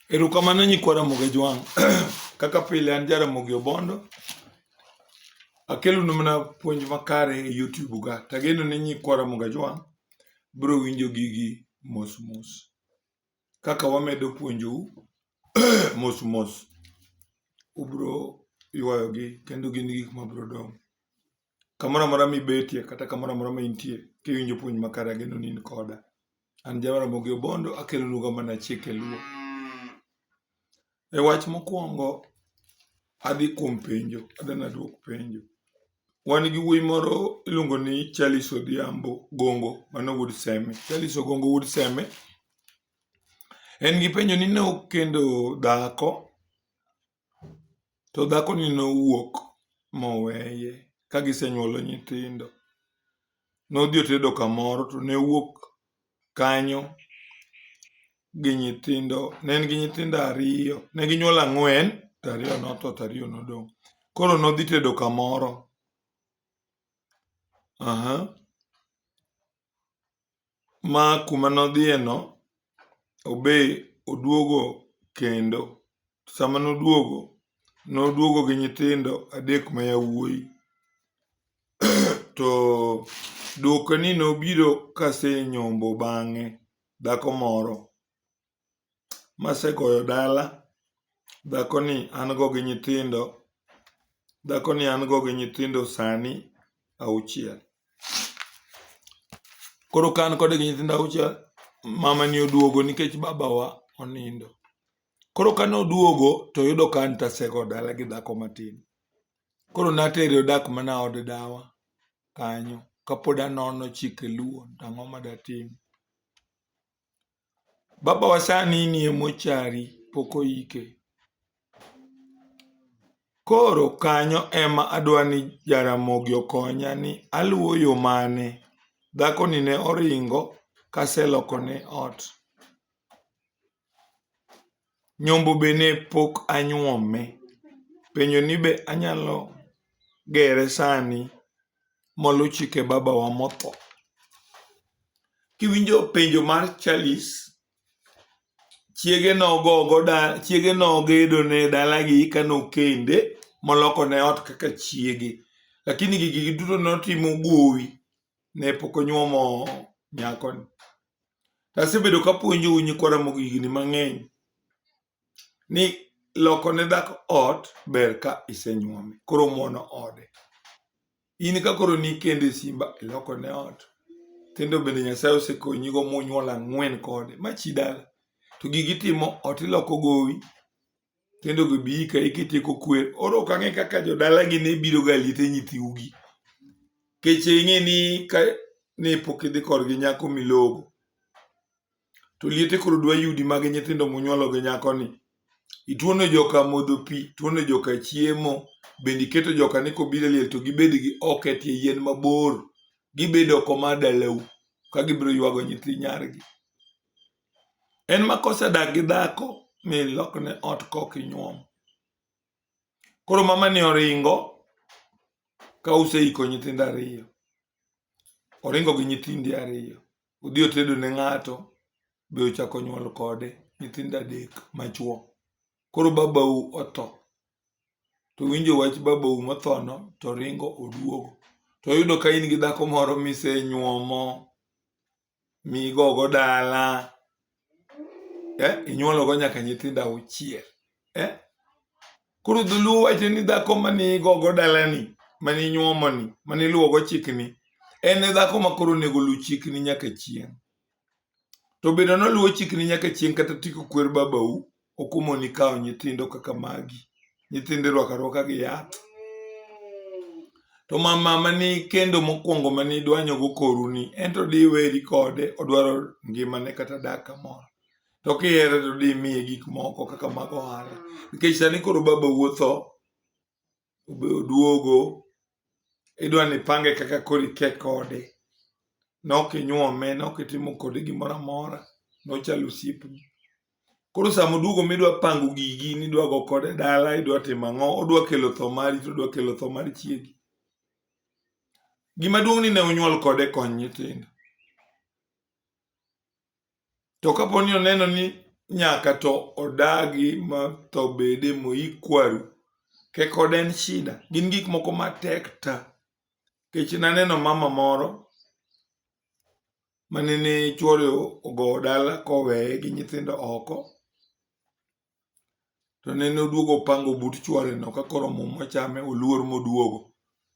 Erokamano nyikwa Ramogi Jwang'. Kaka pile an ja Ramogi Obondo. Akelonu mana puonj makare e YouTube ga. Tageno ni nyikwa Ramogi Jwang' biro winjo gigi mos mos. Kaka wamedo puonjou mos mos ubiro ywayogi kendo gin gik mabiro dongo. Kamoro amora mibetie kata kamoro amora ma intie, kiwinjo puonj makare ageno ni in koda. An Jawa Ramogi Obondo, akelonugo mana chike luo. E wach mokwongo, adhi kuom penjo, adwa nadwok penjo. Wan gi wuoyi moro iluongo ni Charles Odhiambo Gongo, mano wuod Seme. Charles Ogongo wuod Seme, en gi penjo ni ne okendo dhako To dhakoni nowuok moweye ka gisenyuolo nyithindo. Nodhi otedo kamoro to ne owuok kanyo gi nyithindo, ne en gi nyithindo ariyo, ne ginyuol ang'wen to ariyo notho to ariyo nodong'. Koro nodhi tedo kamoro, aha. ma kuma nodhiye no obe oduogo kendo. Sama noduogo, noduogo gi nyithindo adek ma yawuoyi. To duoko ni nobiro kasenyombo bang'e dhako moro. masegoyo dala, dhakoni an go gi nyithindo, dhakoni an go gi nyithindo sani auchiel. Koro ka an kode gi nyithindo auchiel, mamani oduogo nikech babawa onindo. Koro kane oduogo to oyudo ka an to asego dala gi dhako matin. Koro natere odak mana od dawa kanyo kapod anono chike luo to ang'o ma datim. Baba wa sani nie mochari pok oike. Koro kanyo ema adwa ni Jaramogi okonya ni aluwo yo mane. Dhako ni ne oringo kaseloko ne ot. Nyombo be ne pok anyuome. Penjo ni be anyalo gere sani molu chike babawa motho. Kiwinjo penjo mar Charles, chiege nogo go dala, chiege nogedo ne dalagi eka nokende moloko ne ot kaka chiege. Lakini gigi duto notimo gowi ne pok onyuomo nyakoni. To asebedo kapuonjou nyikwa Ramogi higni mang'eny ni loko ne dhako ot ber ka isenyuome, koro muono ode. In ka koro nikende Simba iloko ne ot, nyithindo bende Nyasaye osekonyigo munyuol ang'wen kode, ma chi dala. To gigi itimo ot iloko gowi, kendo gibi ka ikitieko kwer oro ok ang'e kaka jodalagi ne biro ga liete nyithiugi keche ing'e ni ka ne pok idhi korgi nyako milogo to liete koro dwa yudi mag nyithindo munyuolo gi nyako ni ituono joka modho pi tuono joka chiemo bende iketo joka ni kobiro liel to gibed gi ok e tie yien mabor gibed oko mar dalau ka gibiro ywago nyithi nyargi en ma kosedak gi dhako mi lokne ot kok inyuom koro mama ni oringo ka useiko nyithindo ariyo oringo gi nyithindi ariyo odhi otedo ne ng'ato be ochako nyuol kode nyithindo adek machuo koro babau otho to winjo wach babau mothono to oringo oduogo to oyudo ka in gi dhako moro misenyuomo migogo dala eh, inyuologo nyaka nyithindo auchiel eh? koro dholuo wacho ni dhako mane igogo dalani mane inyuomoni mane iluwogo chikni en e dhako ma koro onego luw chikni nyaka chieng' to bedo noluwo chikni nyaka chieng' kata tiko kwer babau okumoni kawo nyithindo kaka magi nyithindo irwako arwaka gi yath to mama mani kendo mokwongo mani idwanyogo koruni en to diweri kode odwaro ngimane kata dak kamoro to kihere to dimiye gik moko kaka mag ohala nikech sani koro baba wuotho obe oduogo idwa ni ipange kaka koro ike kode nok inyuome nok itimo kode gimoro amora nochalo osiepni koro sama oduogo midwa pango gigi nidwa go kode dala idwa timo ang'o odwa kelo tho mari to odwa kelo tho mar chiegi gima duong' ni ne unyuol kode kony nyithindo To kapo ni oneno ni nyaka to odagi ma tho bede moik kwaru, kek od en shida. Gin gik moko matek ta. Kech naneno mama moro manene chwore ogowo dala koweye gi nyithindo oko. to nene oduogo opango but chwareno ka koro mum ochame oluor moduogo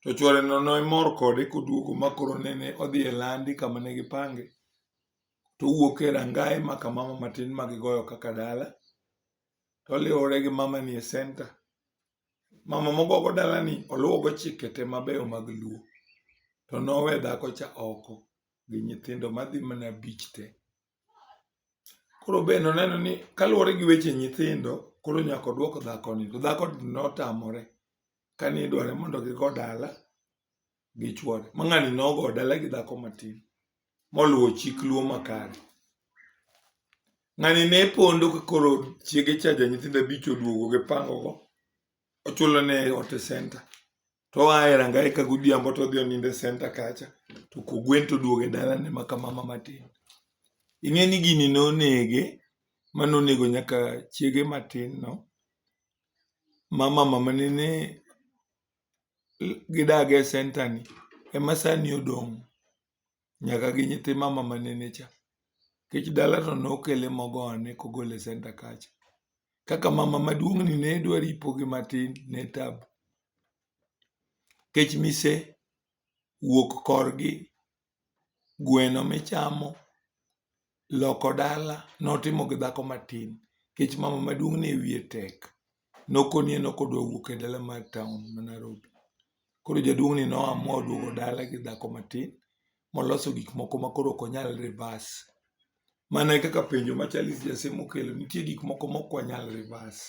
to chwareno nomor kode koduogo ma koro nene odhi e landi kama ne gipange to owuok e rangaye ma kamama matin ma gigoyo kaka dala to oliwore gi mama ni e senta mama mogogo dalani oluwogo chike te mabeyo mag luo to nowe dhako cha oko gi nyithindo madhi mana bich te Koro be noneno ni kaluwore gi weche nyithindo, koro nyaka odwok dhakoni. To dhakoni notamore kane idware mondo gigo dala gi chwore. Ma ng'ani nogo dala gi dhako matin moluwo chik luo makare. Ng'ani ne pondo ka koro chiege cha ja nyithindo abich oduogo gipangogo ochulo ne ot e senta to oa e rangae ka godhiambo to odhi onindo e senta kacha to kogwen to oduogo e dalane ma ka mama matin ing'e ni gini nonege mane onego nyaka chiege matin no ma mama mane ne gidaga e senta ni ema sani odong' nyaka gi nyithi mama ma nene cha. Nikech dala to nokele mogo ane kogole e senta kacha. Kaka mama maduong' ni ne dwa ripo gi matin ne tabu. Nikech mise wuok korgi, gweno michamo, loko dala notimo gi dhako matin. Nikech mama maduong' ne wiye tek. nokonie ni ok odwa wuok e dala mar town ma Nairobi. Koro jaduong' ni noamua oduogo dala gi dhako matin moloso gik moko ma koro ok onyal reverse. Mana e kaka penjo ma Charles Jasim okelo, nitie gik moko ma ok wanyal reverse.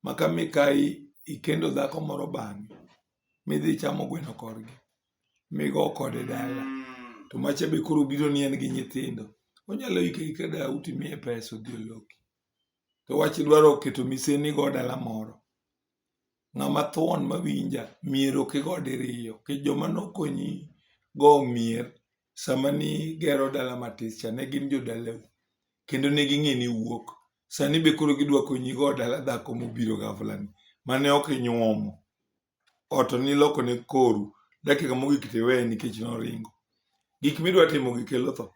Ma ka mikayi ikendo dhako moro bang'e midhi ichamo gweno korgi, migo kode dala, to macha be koro obiro ni en gi nyithindo, onyalo iko aika dau timiye pesa odhi oloki. to wach dwaro keto miseni go dala moro ng'ama thuon mawinja mier ok igo diriyo ki joma nokonyi go mier sama nigero dala matis cha ne gin jodalau kendo ne ging'e ni wuok sani be koro gidwa konyi go dala dhako mobiro gafla ni mane ok inyuomo ot niloko ne koru dakika mogik to iweye nikech noringo. Gik midwa timo gi kelo tho.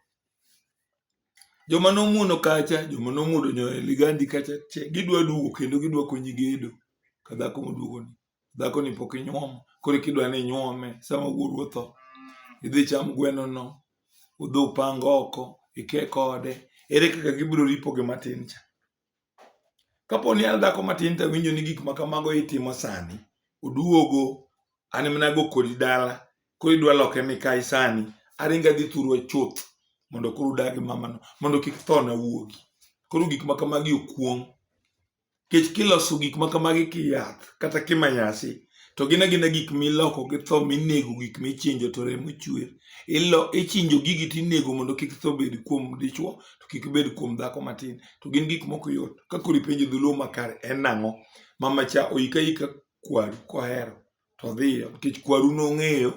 Joma nomuono kacha, joma nomuodo nyoyo ligandi kacha, che gidwa duogo kendo gidwa konyi gedo ka dhako moduogoni. Dhakoni pok inyuomo, koro kidwa ni inyuome sama wuoru otho. Idhi cham gwenono, udhi upang oko, ike kode. Ere kaka gibiro ripo gi matin cha? Kapo ni an dhako matin to awinjo ni gik ma kamago itimo sani, oduogo, an ema nago kodi dala, koro idwa loke mikayi sani, aringo adhi thurwa chuth mondo koro udag gi mamano mondo kik thona wuogi. Koro gik ma kamagi okuong'. Nikech kiloso gik ma kamagi kiyath kata kimanyasi, to gin agina gik miloko gi tho minego gik michinjo to remo chwer ichinjo gigi to inego mondo kik tho bed kuom dichwo to kik bed kuom dhako matin to gin gik moko yot ka koro ipenjo dholuo makare en nang'o mama cha oika ika kwaru kohero to dhiyo nikech kwaru nong'eyo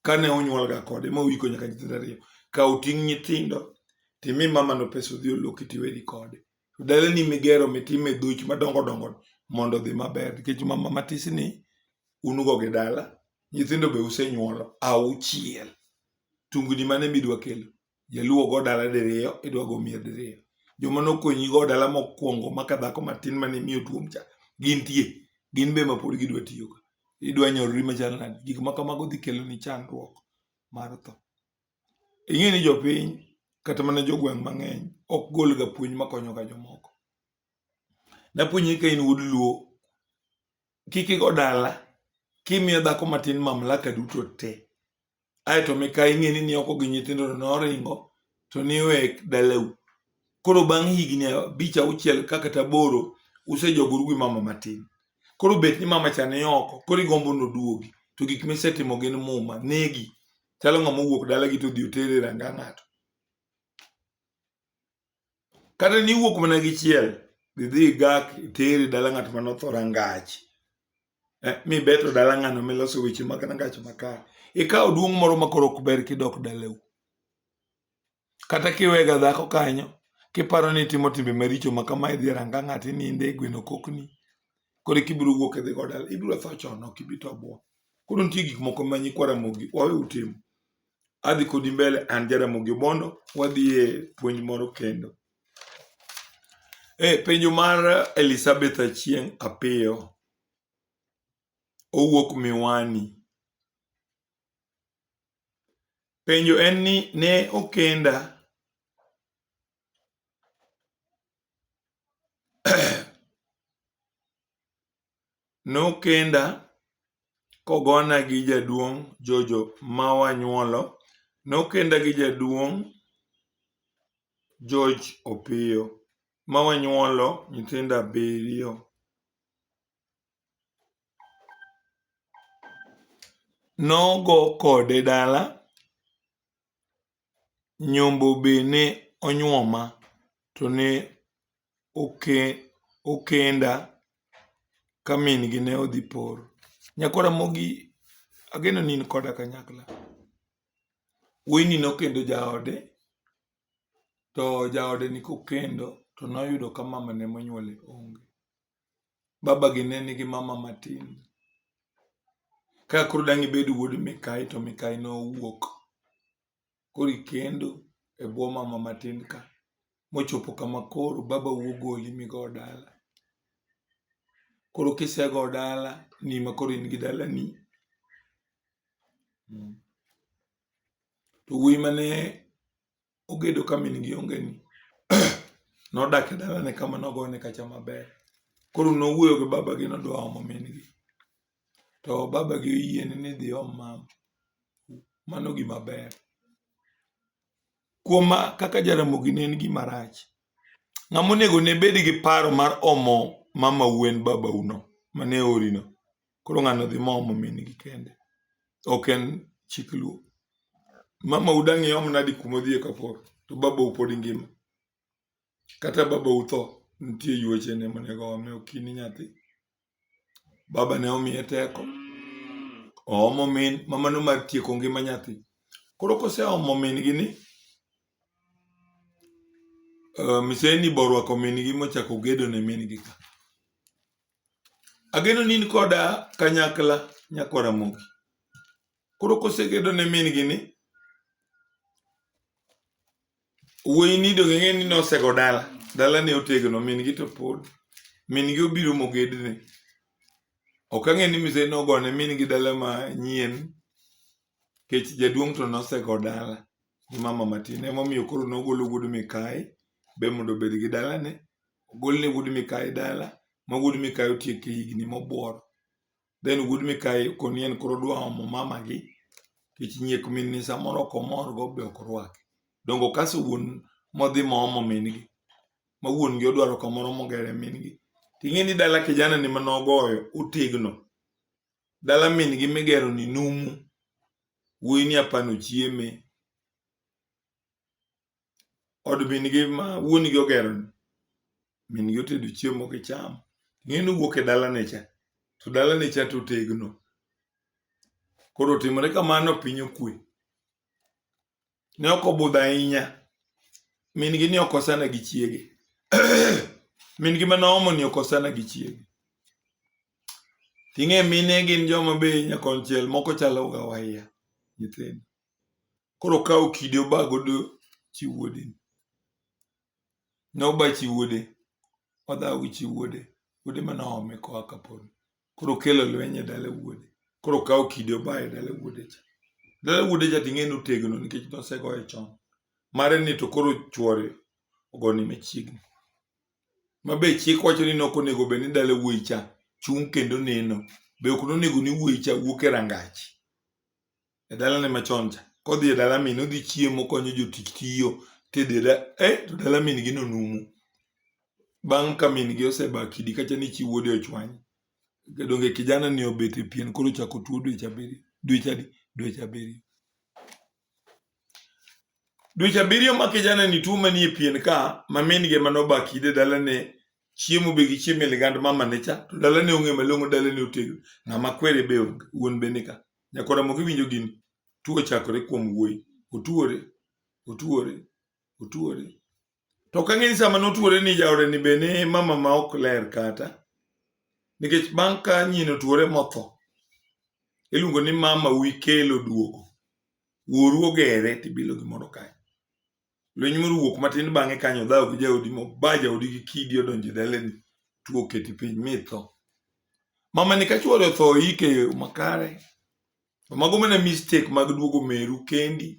kane onyuolga kode ma oiko nyaka nyithindo ariyo ka oting' nyithindo timi mamano pesa odhi oloki tiweri kode to dalani migero mitime dhuch madongo dongo mondo odhi maber nikech mama matisni un go gi dala nyithindo be usenyuolo auchiel tungni mane midwa kelo jaluwo go dala diriyo idwa go mier diriyo joma nokonyi go dala mokwongo maka dhako matin mane miyo tuom cha gintie gin be ma pod gidwa tiyo ka idwa nyorori machal nadi gik ma kamago dhi kelo ni chandruok mar tho Ing'e ni jopiny kata mana jogweng' mang'eny ok golga puonj makonyoga jomoko. Napuonji ni ka in wuod luo, kik igo dala kimiyo dhako matin mamlaka duto te. Aeto mikayi ing'eni ni oko gi nyithindo to noringo to niwek dalau. Koro bang' higni abich auchiel ka kata aboro usejogoru gi mama matin. Koro bet ni mama cha ni oko, koro igombo noduogi. To gik misetimo gin muma, negi. chalo ng'ama owuok dalagi to odhi otere e ranga ng'ato kata ni iwuok mana gi chiel idhi igak itere dala ng'at ma notho rangach eh, mibeto dala ng'ano miloso weche mag rangach makare ikawo duong' moro makoro ok ber kidok dalau Kata kiwega dhako kanyo, kiparo ni itimo timbe maricho ma kama idhi e ranga ng'ato ininde e gweno kokni, koro eka ibiro wuok idhi go dala. Ibiro tho chon, ok ibi to bwo. Koro nitie gik moko ma nyikwa Ramogi wawe utimo. Adhi kodi mbele, an ja Ramogi Obondo, wadhi e puonj moro kendo. E penjo mar Elizabeth Achieng' Apiyo, owuok Miwani. Penjo en ni ne okenda nokenda kogona gi jaduong' Jojo ma wanyuolo. Nokenda gi jaduong' George Opiyo ma wanyuolo nyithindo abiriyo. nogo kode dala nyombo be ne onyuoma to ne okenda ka min gi ne odhi poro. Nyako Ramogi ageno ni in koda kanyakla. Wuoyi ni nokendo jaode to jaode ni kokendo to noyudo ka mamane monyuole onge. babagi ne nigi mama matin. Ka koro dang' ibed wuod mikayi to mikayi nowuok. Koro ikendo e bwo mama matin ka. Mochopo kama koro baba wuo goli migo dala. Koro kisego dala ni ma koro in gi dalani. To wuoyi mane ogedo ka min gi onge ni nodak e dalane kama nogone kacha maber koro nowuoyo gi baba gi nodwa omo min gi to baba gi oyiene ni dhi om mam mano gima ber kuom ma kaka jaramogi ne en gima rach ng'ama onego ne bed gi paro mar omo mama wen baba uno mane orino Koro ng'ano dhi momo min gi kende? Ok en chik luo. Mama udangi om nadi kuma odhiye kapor to baba upod ngima. Kata baba utho nitie yueche ne monego ome okini nyathi. Baba ne omiye teko. Oomo min mama no mar tieko ngima nyathi. Koro kose omo min gi ni uh, miseni borwako min gi mochako gedo ne min gi ka. Ageno ni in koda kanyakla nyako Ramogi. Koro kosegedo ne min gi ni wuoyi ni donge ng'e ni nosego dala dala ne otegno min gi to pod min gi obiro mogedne ok ang'e ni mise nogone min gi dala ma nyien kech jaduong' to nosego dala gi mama matin emomiyo koro nogolo wuod mikayi be mondo obed gi dalane ogol ne wuod Mikayi dala ma wuod Mikayi otieko e higni mobworo. Then wuod Mikayi koni en koro odwa omo mamagi nikech nyiek min ni samoro ok omorgo be ok orwake. Donge okaso wuon modhi moomo min gi ma wuon gi odwaro kamoro mogere min gi. Ting'e ni dala kijana ni mane ogoyo otegno. Dala min gi migero ni numu. Wuoyi ni apani ochieme. od min-gi ma wuon-gi ogeroni, min-gi otedo chiemo kichamo. Ing'e ni owuok e dalane cha, to dalane cha to otegno. Koro otimore kamano piny okwe. Ne ok obudho ahinya, min-gi ni okosana gi chiege. Min-gi mane oomoni okosana gi chiege. Ting'e mine gin joma be nyakonchiel moko chalo ga waya nyithindo. koro kawo kidi oba godo chi wuode noba chi wuode odhawo gi chi wuode wuode mana ome koa kapolo koro kelo lweny e dala wuode koro kawo kidi oba e dala wuode cha dala wuode cha ting'e ni otegno nikech nosegoye chon mare ni to koro chwore ogoni machiegni ma be chik wacho ni nok onego bed ni dala wuoyi cha chung' kendo neno be ok nonego ni wuoyi cha wuok e rangach e dalane machon cha kodhi e dala min odhi chiemo konyo jotich tiyo tedo e da- eh, to dala min gi nonumu bang' ka min gi oseba kidi kacha ni chi wuode ochwany donge kijana ni obet e pien koro chako tuo dweche abiriyo dweche adi dweche abiriyo dweche abiriyo ma kijana ni tuo manie pien ka ma min gi ema noba kidi e dalane chiemo be gichiemo e ligand mamane cha to dalane ong'e malong'o dalane otegno ng'ama kwere be onge wuon be nika Nyakora moko iwinjo gin tuo chakore kuom wuoyi. Otuore, otuore, otuore. To ok ang'e ni sama notuore ni jaode ni be ne mama ma ok ler kata. Nikech bang' ka nyien otuore motho, iluongo ni mama wi kelo duogo. Wuoru ogere tibilo gimoro kae. Lweny moro wuok matin bang'e kanyo dhawo gi jaodi moba jaodi gi kidi odonjo e daleni tuo oketi piny mitho. Mama ni kachuore otho ike e yo makare. To mago mana mistake mag duogo meru kendi.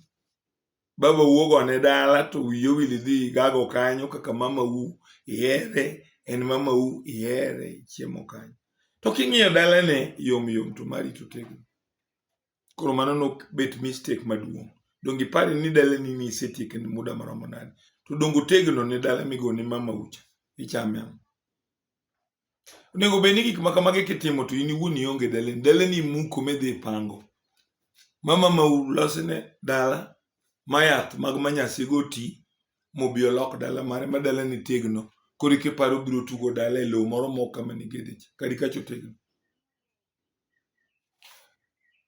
Baba wuogo ne dala to wiye owil idhi gago kanyo kaka mama wu ihere en mama wu ihere chiemo kanyo. To king'iyo dalane yom yom to mari to tegno. Koro mano nok bet mistake maduong'. Donge ipare ni dala ni ni isetieke ni muda maromo nade? To donge otegno ni dala migo ni mama ucha ichame ang'? Onego bed ni gik ma kamagi kitimo to in iwuon ionge dala ni dala ni imuko midhi ipango. Mama ma ulosne dala ma yath mag manyasi go ti mobi olok dala mare ma dala ni tegno koro ikiparo biro tugo dala e lowo moro mok kama nigedich kadi kacho tegno.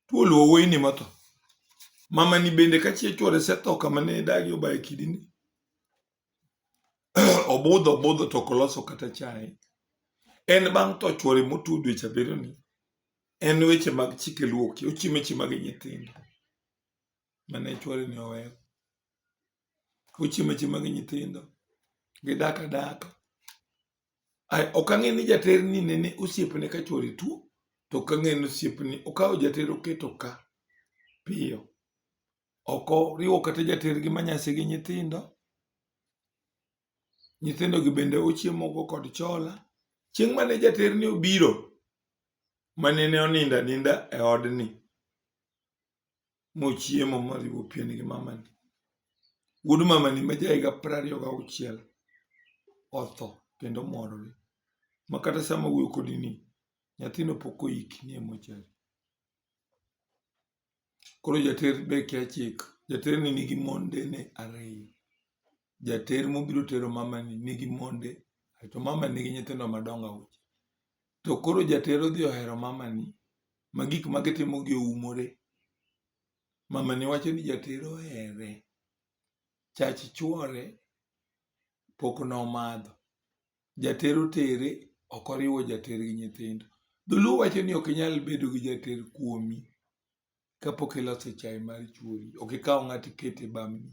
Thuol owuoyi ni motho. Mama ni bende ka chieng' chwore setho kama ne idagi obaye kidi ni. Obudho obudho to ok oloso kata chai. En bang' tho chwore motuo dweche abiriyo ni en weche mag chike luoki ochimo weche mag nyithindo mane chwore ni oweyo. Ochimo weche mag nyithindo. Gidak adaka. ok ang'e ni jater ni nene osiepne ka chwore tuo to ok ang'e ni osiepni okawo jater oketo ka piyo ok oriwo kata jater gi manyasi gi nyithindo nyithindo gi bende ochiemo go kod chola chieng' mane jater ni obiro mane ne onindo aninda e odni mochiemo moriwo pien gi mamani. Wuod mamani ma ja higa piero ariyo gauchiel otho kendo morore ma kata sama wuoyo kodi ni nyathino pok oiki ni e mochari. Koro jater be kia chik, jaterni nigi mondene ariyo. jater mobiro tero mamani nigi monde to mama nigi nyithindo madongo auchiel to koro jater odhi ohero mamani ma gik ma gitimo gi oumore mamani wacho ni jater ohere chach chuore pok nomadho jater otere ok oriwo jater gi nyithindo dholuo wacho ni ok inyal bedo gi jater kuomi kapok iloso chai mar chuori ok ikaw ng'ato ikete bamni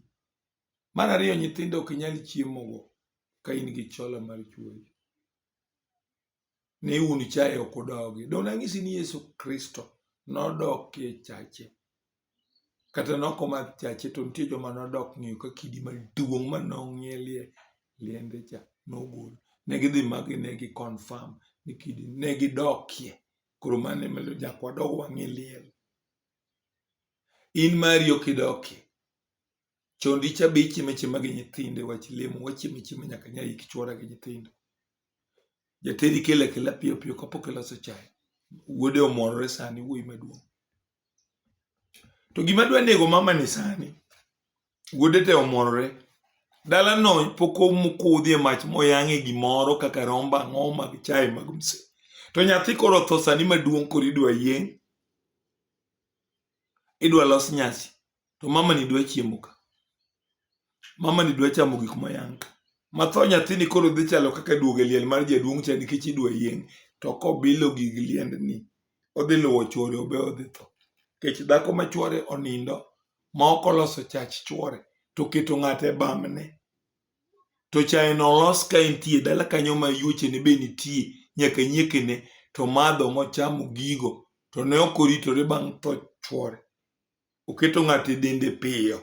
Mar ariyo, nyithindo ok nyal chiemogo ka in gi chola mar chuoyo. Ne un chaye ok udogi. Donge nanyisi ni Yesu Kristo nodok e chache? Kata noko mar chache to nitie joma nodok ng'iyo ka kidi maduong' ma nong'ielie liende cha nogol. Ne gidhi magi ne gi confirm ni kidi ne gidokie. Koro mano ema jakwa dog wang'e liel. In mari ok idokie. Chon dicha be ichieme chiema gi nyithinde wach lemo wachieme chiema nyaka nya ik chwora gi nyithinde. Jatedi kele kela piyo piyo kapok iloso chai. Wuode omorore sani wuoyi maduong'. To gima dwa nego mama ni sani wuode te omorore dala no pok omukudhi e mach moyang'e gimoro kaka romba ang'o mag chai mag mse. To nyathi koro tho sani maduong' koro idwa yieng' idwa los nyasi to mama ni dwa chiemo ka mama ni dwa chamo gik mayang ka matho nyathini koro dhi chalo kaka duogo e liel mar jaduong' cha nikech idwa yieng to kobilo gig liendni odhi luwo chwore obe odhi tho nikech dhako ma chwore onindo ma ok oloso chach chwore to keto ng'ate e bamne to chae no olos ka entie dala kanyo ma yuochene be nitie nyaka nyiekene to madho mochamo gigo to ne ok oritore bang' tho chwore oketo ng'ato e dende piyo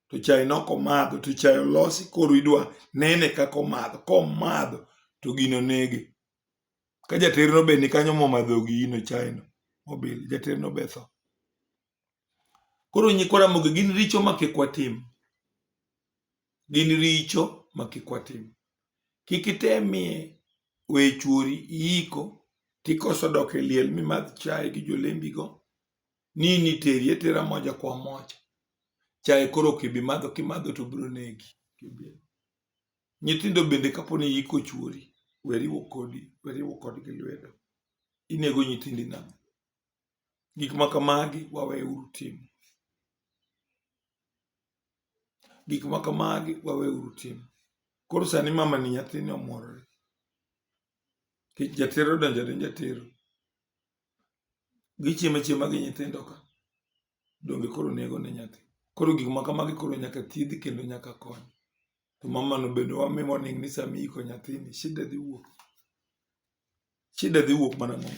to chae nok omadho to chae olosi koro idwa nene kaka omadho komadho to gino nege ka jaterno be nikanyo momadho gino chaeno mobil jaterno be tho koro nyikwa Ramogi gin richo ma kik watim gin richo ma kik watim kik itemie we chuori iiko tikoso dok e liel mimadh chae gi jolembigo nini teri etera moja kwa moja chaye koro kibi madho kimadho to biro negi nyithindo bende kapo ni yiko chuori weriwo kodi weriwo kodgi lwedo inego nyithindi nang'o gik ma kamagi waweuru timo gik ma kamagi waweuru timo koro sani mama ni nyathini omworore kech jatero donjo ne jatero gichiemo achiema gi nyithindo ka donge koro nego ne nyathi koro gik ma kamagi koro nyaka thiedhi kendo nyaka kony to mamano bende wami warning ni sama iiko nyathini shida dhi wuok shida dhi wuok mana mo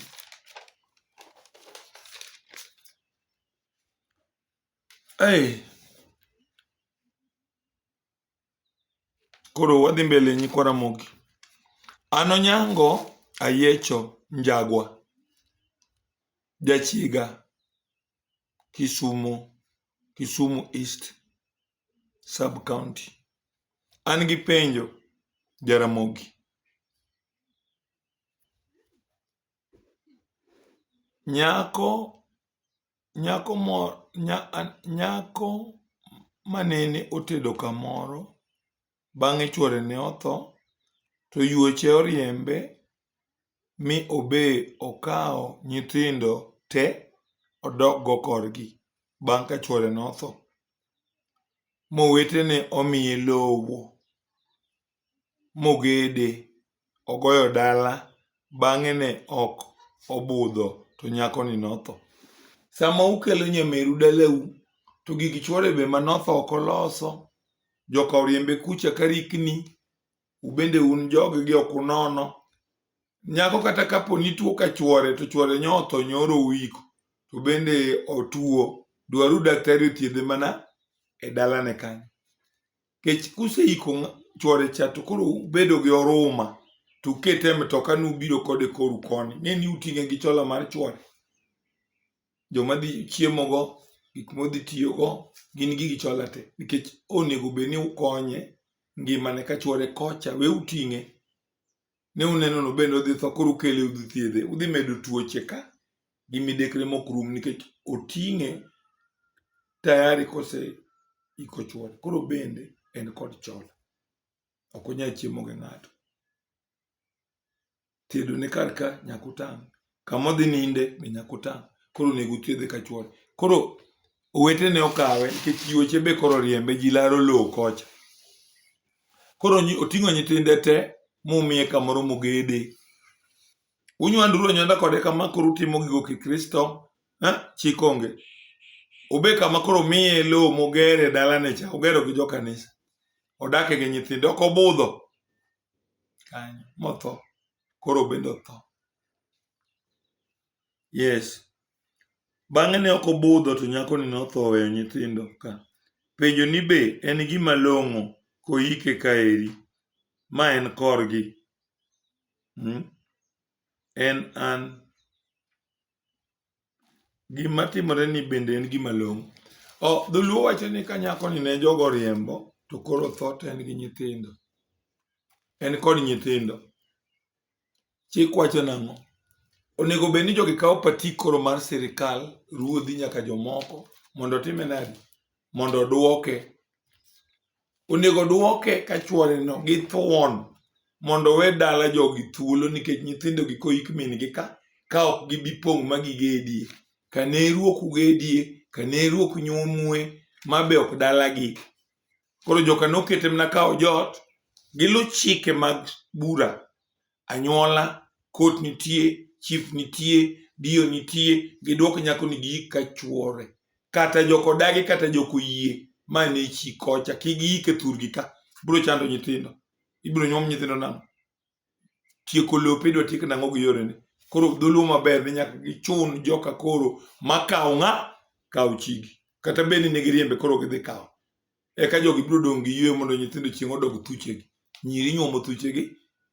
Hey. Koro wadhi mbele nyikwa Ramogi. An Onyango Ayiecho Njagwa, Jachiga, Kisumo, Kisumu East Sub County. An gi penjo Jaramogi. Nyako Nyako mo, nya, an- nyako manene otedo kamoro, bang'e chwore ne otho, to yuoche oriembe, mi obe okawo nyithindo te odok go korgi, bang' ka chwore notho. Mowetene omiye lowo. mogede, ogoyo dala bang'e ne ok obudho to nyakoni notho. Sama ukelo nyameru dalau to gig chwore be manotho ok oloso, joka oriembe kucha ka rikni, ubende un joggi ok unono. Nyako kata kapo ni tuo ka chwore to chwore nyotho nyoro uiko to bende otuo, dwaruru daktari othiedhe mana e dalane kanyo. Kech kuseiko chwore cha to koro ubedo gi oruma to ukete e mtoka ni ubiro kode koru koni. Ng'e ni uting'e gi chola mar chwore. Joma dhi chiemogo, gik modhi tiyogo, gin gigi chola te. Nikech onego bed ni ukonye ngimane ka chwore kocha, we uting'e. ne uneno no bende odhi tho koro ukele udhi thiedhe udhi medo tuoche ka gi midekre mok rum nikech oting'e tayari kose iko chuor koro bende en kod chola ok onyal chiemo gi ng'ato thiedone kar ka nyaka utang' kama odhi ninde be nyaka otang'. Koro onego othiedhe ka chwore. Koro owete ne okawe nikech yuoche be koro riembe ji laro lowo kocha. Koro oting'o nyithinde te mumiye kamoro mogede. Unywanduru anywanda kode kama koro utimo gigo kikristo, eh, chik onge. Obe kama koro miye lowo mogere dalane cha, ogero gi jo kanisa. Odake gi nyithinde, ok obudho. Kanyo, motho. koro bende otho. Yes. Bang'e ne ok obudho to nyakoni notho oweyo nyithindo ka. Penjo ni be en gima long'o koyike kaeri. Ma en korgi. Hmm? En an. Gima timore ni bende en gima long'o. O, dholuo wacho ni ka nyako ni ne jogo riembo to koro tho to en gi nyithindo. En kod nyithindo. Chik wacho nang'o? Onego bed ni jogi kawo patik koro mar sirikal, ruodhi nyaka jomoko mondo otime nadi? Mondo odwoke. onego dwoke ka chworeno gi thuon mondo owe dala jogi thuolo nikech nyithindogi koik min-gi ka ka ok gibi pong' ma gigedie ka ne ruok ugedie ka ne ruok nyuomue ma be ok dalagi koro joka nokete mana kawo joot gilu chike mag bura anyuola, kot nitie, chief nitie, dio nitie, giduok nyako ni giik ka chuore. Kata joko dagi kata joko yie, ma ne chi kocha, kik giik e thurgi ka. Biro chando nyithindo. Ibiro nyuom nyithindo nang'o? Tieko lope idwa tiek nang'o gi yorene? Koro dholuo maber ni nyaka gichun joka koro makawo ng'a? Kawo chigi. Kata bed ni ne giriembe koro gidhi kawo. eka jogi biro dong' gi yweyo mondo nyithindo chieng' odog thuchegi nyiri nyuomo thuchegi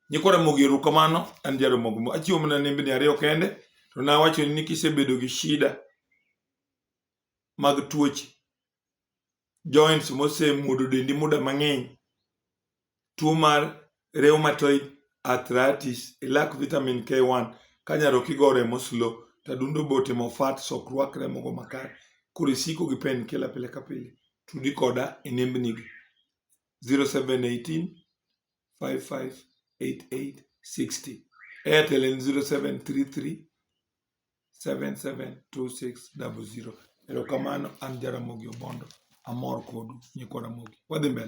nyikwa ramogi erokamano an jaramogi mo achiwo mana nembni ariyo kende to nawacho ni kisebedo gi shida mag tuoche joints mosemuodo dendi muda mang'eny tuo mar rheumatoid arthritis ilak vitamin K1 ka nyaroki go remo slow to adundo be otimo fat so ok rwak remo go makare koro isiko gi pain killer pile ka pile tudi koda e nembni gi 0718 558860 airtel en 0733 772600 erokamano an jaramogi obondo amor kodu nyikwa ramogi wadhi mbele